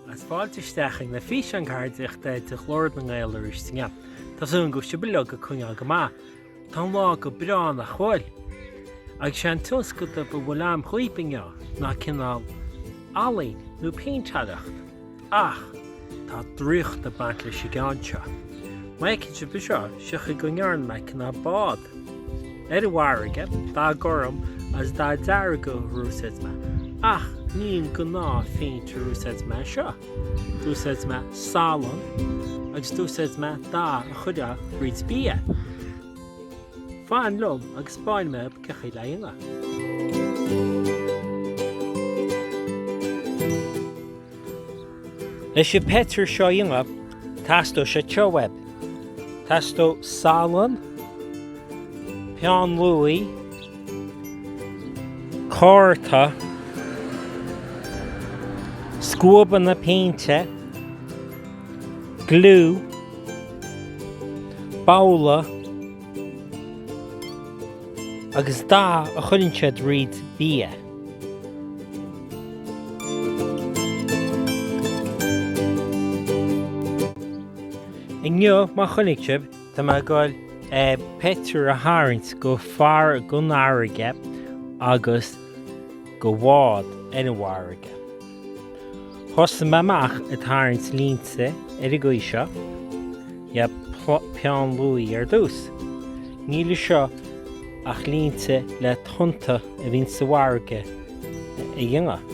Agus fáilte isteach ag na físeáin ceardaíochta de Ghlór na nGael arís inniu. Tá súil agam go bhfuil sibh uilig ag coinneáil go maith. Tá an lá go breá nach bhfuil? Agus sé an tionscadal a bhfuil agam dhaoibh inniu ná cineál ealaín nó péintéireacht. Ach tá draíocht ag baint leis an gceann seo. Má fheiceann sibh é seo, feicfidh sibh go ndearna mé cineál bád. Ar an bhfarraige, dath gorm agus dath dearg ar úsáid mé, ach ní an gnáthphéint ar úsáid mé anseo. D'úsáid mé salann agus d'úsáid mé dath a chuireadh fríd bia. Faigheann liom agus báin mé ab ciothaí le ingne. Leis an bpeitir seo ingne, teastóidh sé treoir. Teastóidh salann, peann luaidh. cárta, scuabanna péinte, gliú, babhla agus dath a chuireann siad thríd bia. Inniu, mar a chonaic sibh Tá mé ag dul pictiúr a tharraingt de far den fharraige agus de bhád ar an bhfarraige. Thosaigh mé amach ag tarraingt línte ar an gcaoi seo, le peann luaidhe ar dtús. Níl anseo ach línte le tonnta a bhíonn sa bhfarraige a dhéanamh.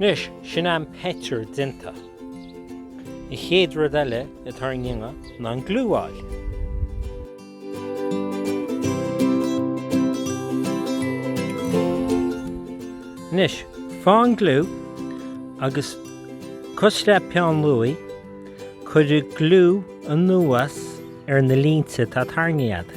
Anois, sin é an pictiúr déanta. An chéad rud eile atá orainn a dhéanamh ná an gliú a fháil. Anois, faigh an gliú agus cosúil le peann luaidhe, cuir gliú anuas ar na línte atá tarraingthe agat.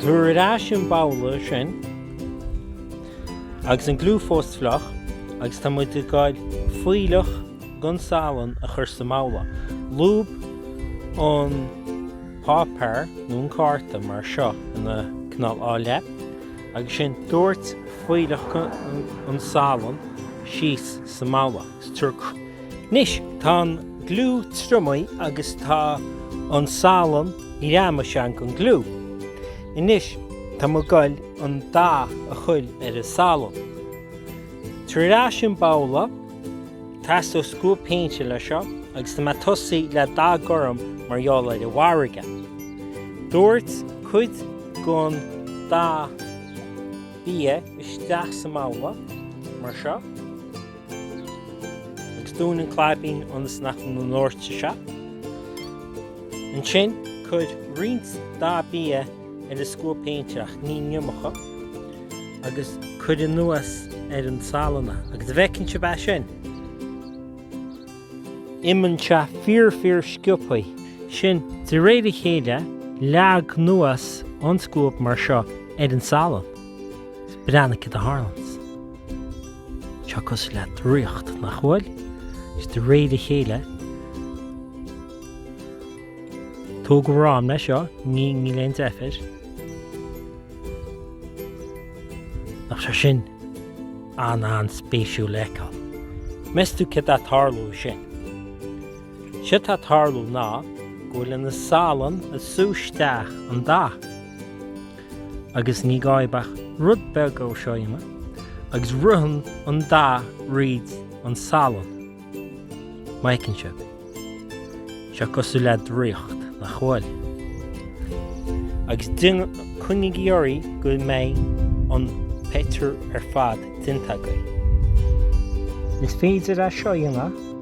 Tabhair ar ais an babhla sin agus an gliú fós fliuch agus tá muid ag gabháil fuílleach den salann a chur sa mbabhla. Lúb an páipéar nó an cárta mar seo ina cineál dhá leith agus ansin doirt fuílleach den salann síos sa mbabhla. Anois tá an gliú triomaithe agus tá an salann greamaithe sa ngliú. Anois tá mé ag goil an dath a chuir ar an salann. Tabhair ar ais an babhla, teastóidh scuab péinte le seo agus tá mé ag tosaí le dath gorm mar gheall ar an bhfarraige. Doirt cuid gon dath bia isteach sa mbabhla, mar seo. Agus dún an claibín ionas nach ndóirtfidh sé. Ansin cuir roinnt dath bia ar an scuab péinte, ach ní an iomarca, agus cuir anuas ar an salann é. Agus an bhfeiceann sibh é sin. imionn sé fíor fíor sciobthaí. Sin, de réir a chéile, leag anuas an scuab mar seo ar an salann. Breathnaigh céard a tharlaíonns. Tá sé cosúil le draíocht, nach bhfuil? Is de réir a chéile, tóg d'am leis seo, níl aon deifir. Nach bhfuil sé sin an-an-spéisiúil le feiceáil? Meas tú céard atá tarlú sin? Séard atá tarlú ná go bhfuil an salann ag sú isteach an dath. agus ní gá ach rud beag a úsáid agus ritheann an dath thríd an salann. Mar a fheiceann sibh. Tá sé cosúil le draíocht, nach bhfuil? Agus coinnigí oraibh go mbeidh an pictiúr ar fad déanta agaibh. Is féidir é seo a dhéanamh.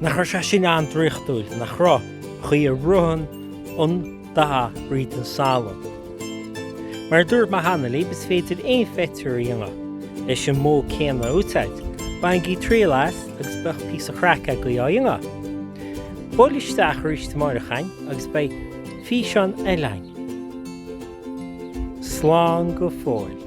Nach raibh sé sin an-draíochtúil, nach raibh? chaoi a ritheann an dath thríd an salann. Mar a dúirt mé cheana libh, is féidir aon phictiúr a dhéanamh leis an modh céanna a úsáid. Bainigí triail as agus beidh píosa craic agaibh á dhéanamh! Buailigí isteach arís amáireach agus beidh físeán eile againn. Slán go fóill.